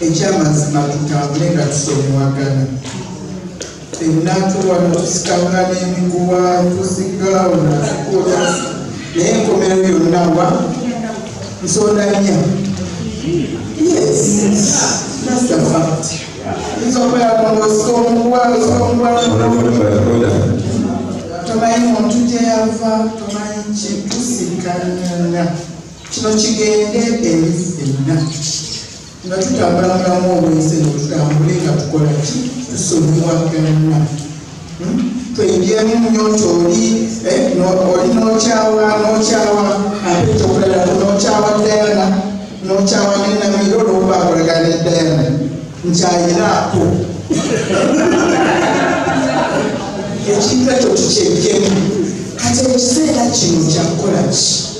ekyamazima tutambule nga tusomewagana fenna tuwano tusikanga n'emiguwa tusigawo natukola naye enkomero yonna wa nsonda nya yes that's a fact tomanyi muntu gyeyava tomanyi kitusikanyana kino kigende eri fenna nga tutambula mulamu obwensi eno tutambule nga tukola ki tusonyiwaganna hmm? tweyingiemu nyo nti oli eh, oli nokyawa nokyawa ate kyokulalaku nokyawa dayana nokyawa nenamiro olwokuba akolagana edayana nkyayinaako ekintu ekyo tukyejemu kati ekiseera kino kyakukola ki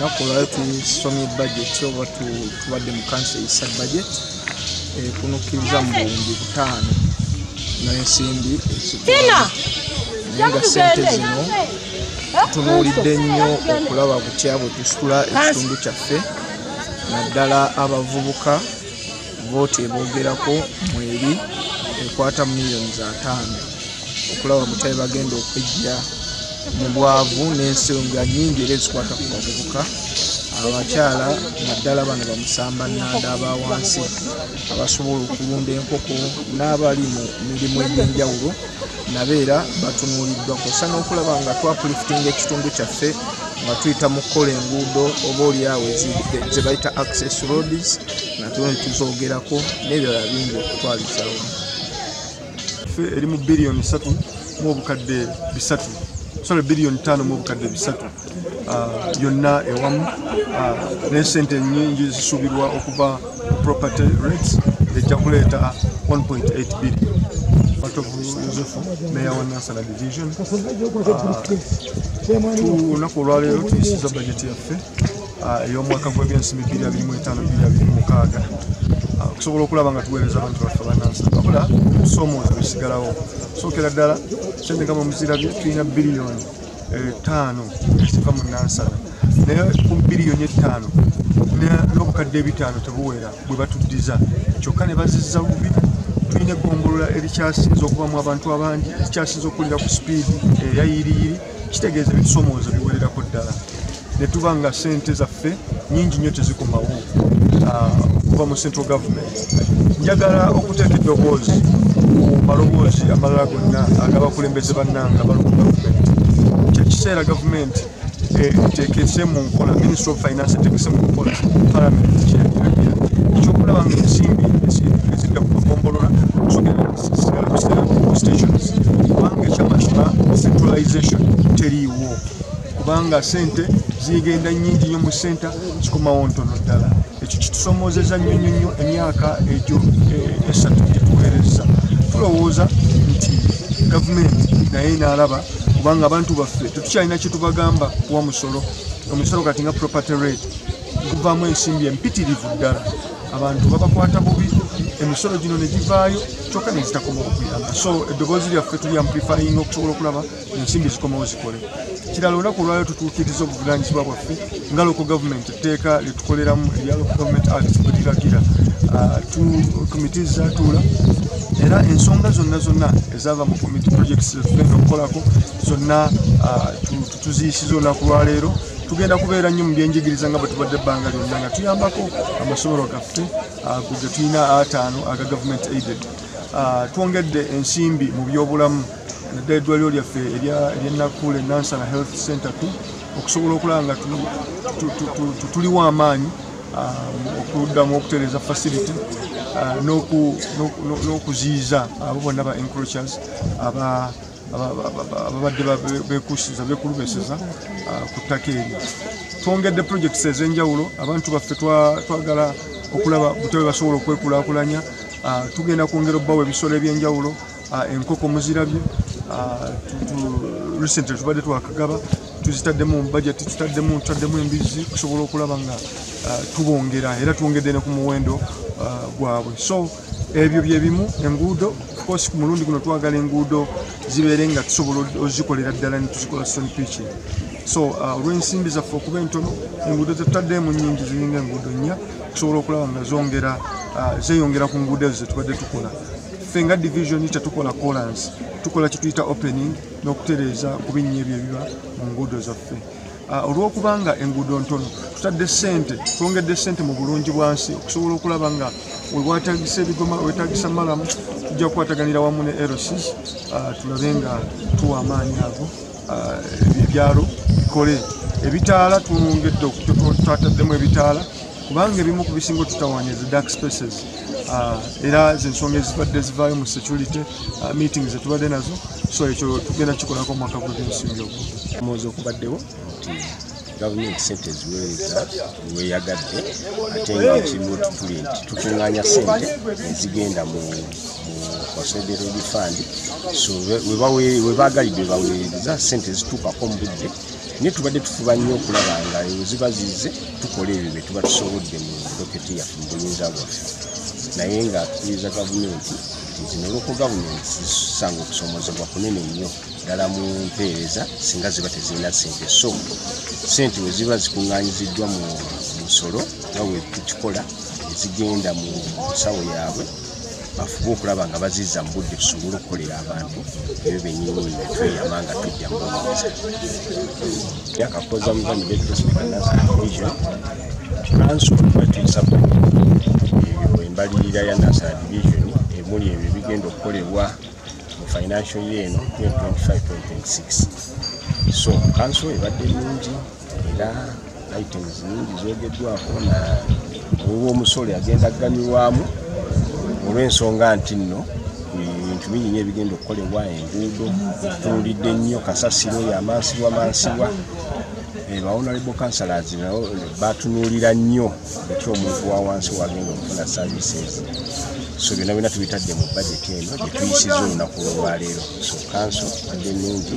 nakulwayo tusomye budget oba tubadde mu kansi eyisa budget ekunukkiriza eh, mu buwumbi butaano n'ensimbi ezikona naye nga sente zino tunuulidde nnyo okulaba butya bwe tusitula ekitundu kyaffe naddala abavubuka vooti eboogerako mweri ekwata mu miliyoni za taano okulaba mutabe bagenda okwejja mu bwavu n'ensonga nyingi era ezikwata ku bavubuka abakyala naddala bano bamusamba nanda aba wansi abasobola okulunda enkoko n'abali mu mirimu egy'enjawulo nabo era batunuuliddwa kwosa n'okulaba nga twapulifitinga ekitundu kyaffe nga tuyita mu kukola enguudo oba olyawo ze bayita access roads natuno tuzogerako nebirala bingi okutwalizawo fe eri mu biliyoni satu mu obukadde bisatu sole biliyoni tano mu obukadde bisatu ah, yonna ewamu ah, naye sente nyingi zisuubirwa okuva property rates ejja kuleeta 1.8 billion Matovu Yosefu, Meya wa Nansana Division. Ah, Tunaku olwaleero tuyisiza bajeti yaffe ah, ey'omwaka gw'ebyensimbi bibiri abiri mu etaano bibiri abiri mu mukaaga ah, okusobola okulaba nga tuweereza abantu baffe abanansi wabula okusoomooza bekisigalawo sookera ddala sente nga mumuzirabye tulina biliyoni etaano eh, eziva mu nansana naye ku biliyoni ettaano n'obukadde ebitaano tebuwera bwe batuddiza kyokka ne bazizza bubi tulina egombolola erikyasinza okubamu abantu abangi erikyasinza okukulira ku sipiidi eyayiriyiri kitegeeza ebisomooza biwererako ddala ne tuba nga ssente zaffe nyingi nnyo tezikomawo ah, okuva mu central government njagala okuteeka eddoboozi ku maloboozi amalala gonna agabakulembeze bannanga bali mu gavumenti kyekiseera gavumenti etekese mu nkola ministry of finance etekese mu nkola palamenti kyeyagiragira ekyokulaba nga ensimbi ezidda ku makombolola kubanga ekyamazima centralization teriiwo kubanga sente zigenda nyingi nyo mu senta kikomawo ntono ddala ekyo kitusomozeza nnyo nyo nyo emyaka egyo eh, esatu gyetuweereza tulowooza nti gavumenti naye naalaba kubanga abantu baffe tetukyalina kyetubagamba kuwa musolo omusolo kati nga property rate guvaamu ensimbi empitirivu ddala abantu babakwata bubi emisolo gino ne givaayo kyokka ne zitakoma okuyamba so eddoboozi lyaffe tuli amplifying okusobola okulaba ensimbi zikomawo zikole kirala olunaku olwayo tutuukiriza obuvunanyizibwa bwaffe nga loko gavumenti etteeka lyetukoleramu erya loko gavumenti act bwetiragira ah, komiti zatuula era ensonga zonna zonna ezaava mu komiti projects zetugenda okukolako zonna ah, tuziyisiza olunaku lwaleero tugenda kubeera nnyo mu byenjigiriza nga bwetubadde ebbanga lyonna nga tuyambako amasomero gaffe ah, ge tulina ataano aga government aided ah, twongedde ensimbi mu byobulamu naddala eddwaliro lyaffe eryenakule nansana health center t okusobola okulaba nga tuliwo amaanyi ah, okuddamu okutereeza facility n'okuziyiza abo bonna ba encrochers aba ababadde bekusiza bekulubeseza ah, ku ttaka eryo twongedde projects ez'enjawulo abantu baffe twagala okulaba butebe basobola okwekulakulanya ah, tugenda kwongera obbawo ebisolo ebyenjawulo ah, enkoko muzirabye recently tubadde twakagaba tuzitaddemu bajeti tutaddemu tutaddemu embizzi okusobola okulaba nga tubongera era twongedde ne ku muwendo gwabwe so ebyo bye bimu enguudo course ku mulundi guno twagala enguudo zibeere nga tusobola ozikolera ddala netuzikola son pitching so uh, olw'ensimbi zaffe okuba entono enguudo zetutaddeemu nyingi ziringa enguudo nnya tusobola okulaba nga zongera uh, zeyongera ku nguudo ezo zetubadde tukola ffe nga division tetukola colansi tukola kituyita opening n'okutereeza ku binnya ebyo ebiba mu nguudo zaffe Ah, olw'okuba nga enguudo ntono tutadde ssente twongedde ssente mu bulungi bwansi okusobola okulaba nga wewatagisa ebigoma wetagisa malamu tujja kukwataganira wamu ne erosis ah, tulabe nga tuwa amaanyi ago ah, ebyalo bikole ebitaala twongedde twataddemu ebitaala kubanga ebimu ku bisinga otutawaanya zi dark spaces ah, era zensonga ezibadde zivaayo mu security ah, meeting zetubadde nazo so ekyo tugenda kikolako omwaka gw'ebyensimbi ogwo omwozi okubaddewo nti gavumenti sente eziweereza weyagadde ate nga ekimu tuli nti tukuŋŋaanya sente ezigenda mu consolidate fund so webaagalidde webaweereza sente ezituukako mu budde naye tubadde tufuba nnyo okulaba nga eyo ziba zize tukola ebyo bye tuba tusobodde mu doketi yaffe mu buyinza bwaffe naye nga tukiriza gavumenti nti zino loko gavumenti zisanga okusomozebwa kunene nnyo ddala mu mpeereza singa ziba tezirina sente so sente we ziba zikuŋŋanyiziddwa mu musolo nga we tukikola ezigenda mu nsawo yaabwe bafube okulaba nga baziza mu budde tusobole okukolera abantu ebyo benyini netweyama nga tujja mubuuza yakakoza muvanibetosbanasavision kanso batuyisako ebyo embalirira ya nasa division emuli ebyo bigenda okukolebwa mu financial year eno 2025 2026 so kanso ebadde nungi era items nyingi zogeddwako na olwomusolo agenda aganyulwamu olw'ensonga nti nno ebintu bingi nyo ebigenda okukolebwa enguudo tunuulidde nnyo kasasiro yamansibwa mansibwa bawonalebo kansalazi nabo batunuulira nnyo eki omuntu wa wansi wagenda okufuna services so byonna byonna tubitadde mu bajeti eno gyetuyisiza olunaku lwolwaleero so kanso adde nungi